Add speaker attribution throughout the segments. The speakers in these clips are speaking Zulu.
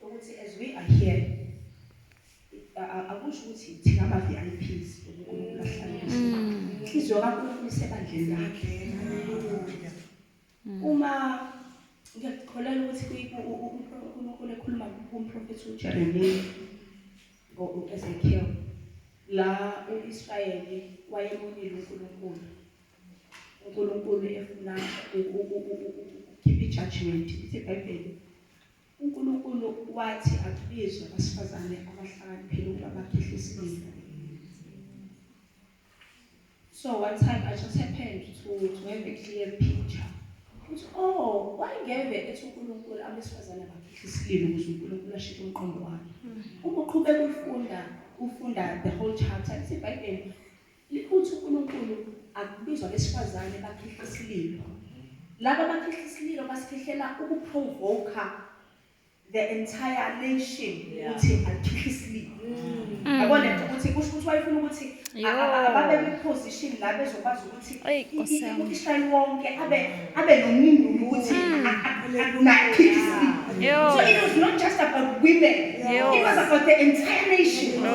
Speaker 1: Ukuthi as we are here akusho ukuthi thina ama VIPs uNkulunkulu ahlale mm. inhliziyo kaNkulunkulu isebandleni lakhe mm. uma ngiyakukholelwa ukuthi uNkulunkulu ekhuluma kumprofethi uJeremiya ngo-Ezekiel la u-Israyeli wayemonile uNkulunkulu uNkulunkulu efuna ukhipha ijudgment ithi ibhayibheli UNkulunkulu wathi akubizwe abasifazane abahlakaniphile ukuba bakhehle isililo. So one time I just happened to, to have a clear picture. Uthi, oh, wayengeve ethi uNkulunkulu abesifazane bakhehle isililo ukuze uNkulunkulu ashintshe umqondo wakhe. Uma uqhubeka ufunda, ufunda the whole chapter, ithi iBhayibheli Liphutha uNkulunkulu akubizwa abesifazane bakhihla isililo. Laba bakhihla isililo basikhihlela ukuprovoka the entire nation ukuthi akhihla isililo. Yabo le nto ukuthi kusho ukuthi wayefuna ukuthi a- a- a- Yo. ababe kwi-position la bezokwazi ukuthi Eyi, Nkosi i- i- yami. u-Israyeli wonke abe abe nomndulu ukuthi nakhihla isililo. Yo. So it was not just about women. Yo. It was about the entire nation. No.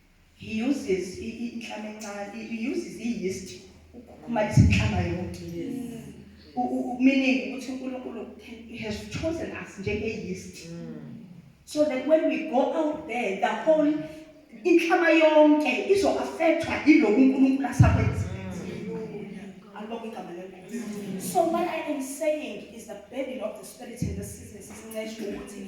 Speaker 1: He uses inhlama encane. He uses i-yeast ukukhukhumalisa inhlama yonke. Meaning ukuthi uNkulunkulu he has chosen us njenge-yeast. Mm. So that when we go out there the whole inhlama yonke izo-affectwa yiloku uNkulunkulu asakwenza. Alibonge igama lenkosi. So what I am saying is the burden of the spirit in this season sisinceshe ukuthi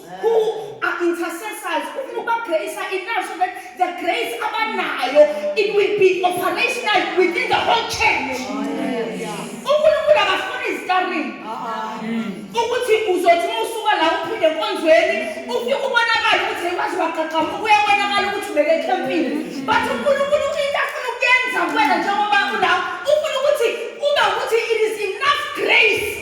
Speaker 1: who are intercessors ufuna ukubagreyisa enough so that the grace abanayo it will be operational within the whole church unkulunkulu akafuni izitarini ukuthi uzothi uma usuka la uphinde enkonzweni ufike ubonakale ukuthi waze waqaqama uyabonakala ukuthi ubeke ekhempini but unkulunkulu into afuna ukuyenza kuwena njengoba ulawo ufuna ukuthi ube ukuthi it is enough grace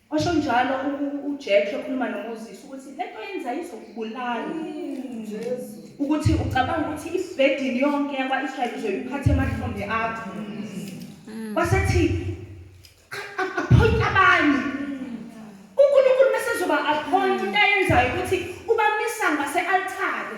Speaker 1: Washo njalo uJack ekhuluma noMoses ukuthi lento yenza izokubulala. Ukuthi ucabanga ukuthi ibhedini yonke yakwa-Israyeli uzoyiphatha emahlombe akho. Mm. Wasethi appoint abanye. UNkulunkulu mesezoba appoint into ayenzayo ukuthi ubamisa ngase-altare.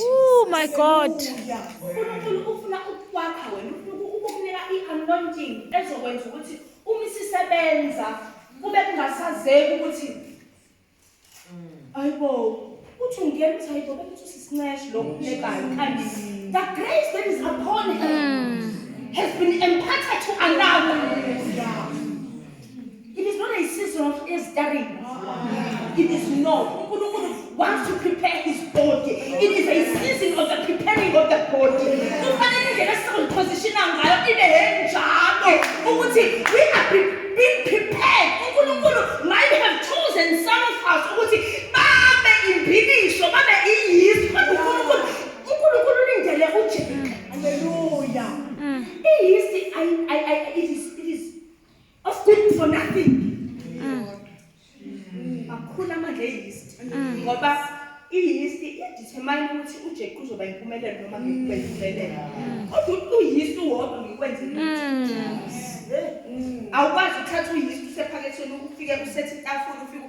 Speaker 2: Oh my God. uNkulunkulu
Speaker 1: ufuna ukukwakha wena ufuna ukukunika i-anointing ezokwenza ukuthi uma isisebenza kube kungasazeki ukuthi ayibo uthi ungena uthi ayibo bekuthi usisinceshi lo ufunekayo kanti the grace that is upon him has been imparted to another It is not a season of stirring. It is not. uNkulunkulu wants to prepare his body. It is a season of the preparing of the body. Kufanele indlela esizoziphosishina ngayo ibe enjalo ukuthi we are pre- being prepared. uNkulunkulu might have chosen some of us ukuthi babe imbilisho, babe iyisu. Kodwa uNkulunkulu, uNkulunkulu ulindele uJerika. Hallelujah. Iyisti, I, I, I, it is Of good for nothing. Mm. Makhulu amandla eyist mm. ngoba iyist idetermine ukuthi uJeku uzoba impumelelo noma ngikube impumelelo. Mm. Kodwa uyist wodwa ngikwenze ukuthi. Awukwazi ukuthatha uyist usephakethweni ufike usethe itafula ufike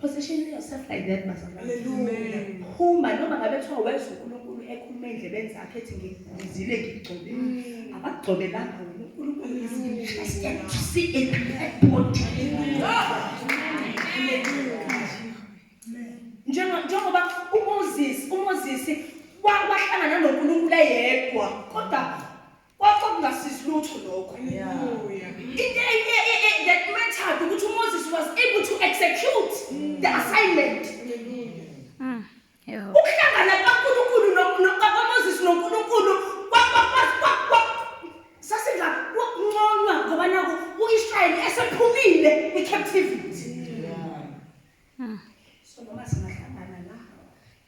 Speaker 1: Position yourself like that bazalwane. Hallelujah. Phuma noma ngabe kuthiwa wezwa uNkulunkulu ekhuluma endlebeni zakhe ethi ngizile ngigcobe. Mm. Abagcobe lapha wena uNkulunkulu uyasikela to see a black body. Njengoba njengoba uMoses uMoses wahlangana noNkulunkulu eyedwa kodwa Kwaxa kungasizi lutho lokho. Hallelujah. Into e- e- e- e- that mattered ukuthi uMoses was able to execute the assignment. Mm. Yebo. Ukuhlangana kaNkulunkulu no- no- kaMoses noNkulunkulu kwa- kwa- kwa- kwa- kwa- sasingakunconywa ngoba naku u-Israyeli esephumile kwi-captivity. Hmm. So noma singahlangana la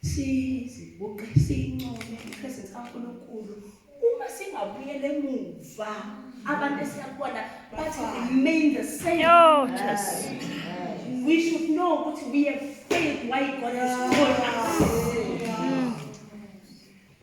Speaker 1: sizibuqe sincome ipresence kaNkulunkulu uma singabuyela emuva abantu esiyakubona bathi remain the same oh, Jesus. we should know ukuthi we have faith why God has called us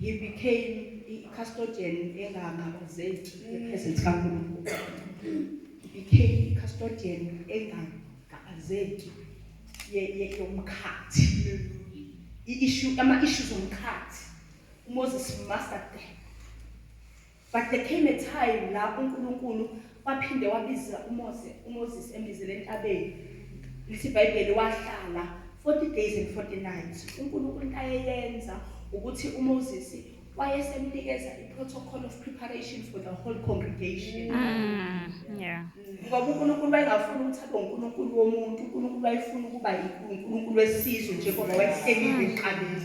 Speaker 1: He became i-custodian engangabuzeki ngephezulu kaNkulunkulu. He became i-custodian engangabazeki yomkhathi. I-issue, ama-issues omkhathi. UMoses master But there came a time la uNkulunkulu waphinde wabiza uMose uMoses embizele entabeni lithi iBhayibheli wahlala 40 days and 40 nights uNkulunkulu into ayeyenza ukuthi uMoses wayesemnikeza i-protocol of preparation for the whole congregation mm, yeah ngoba uNkulunkulu wayengafuni ukuthi abe uNkulunkulu womuntu uNkulunkulu wayefuna ukuba uNkulunkulu wesizwe njengoba wayehlelile eqaleni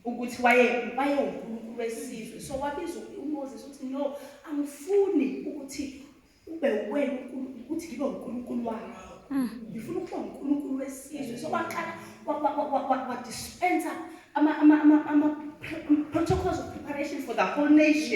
Speaker 1: ukuthi waye wayewunkulunkulu wesizwe so wabiza umoses ukuthi no angifuni ukuthi ube wena unkulunkulu ukuthi ngibe unkulunkulu wakho mm. ngifuna ukuba unkulunkulu wesizwe so waqala wadispensa ama-protocols of preparation for the whole nation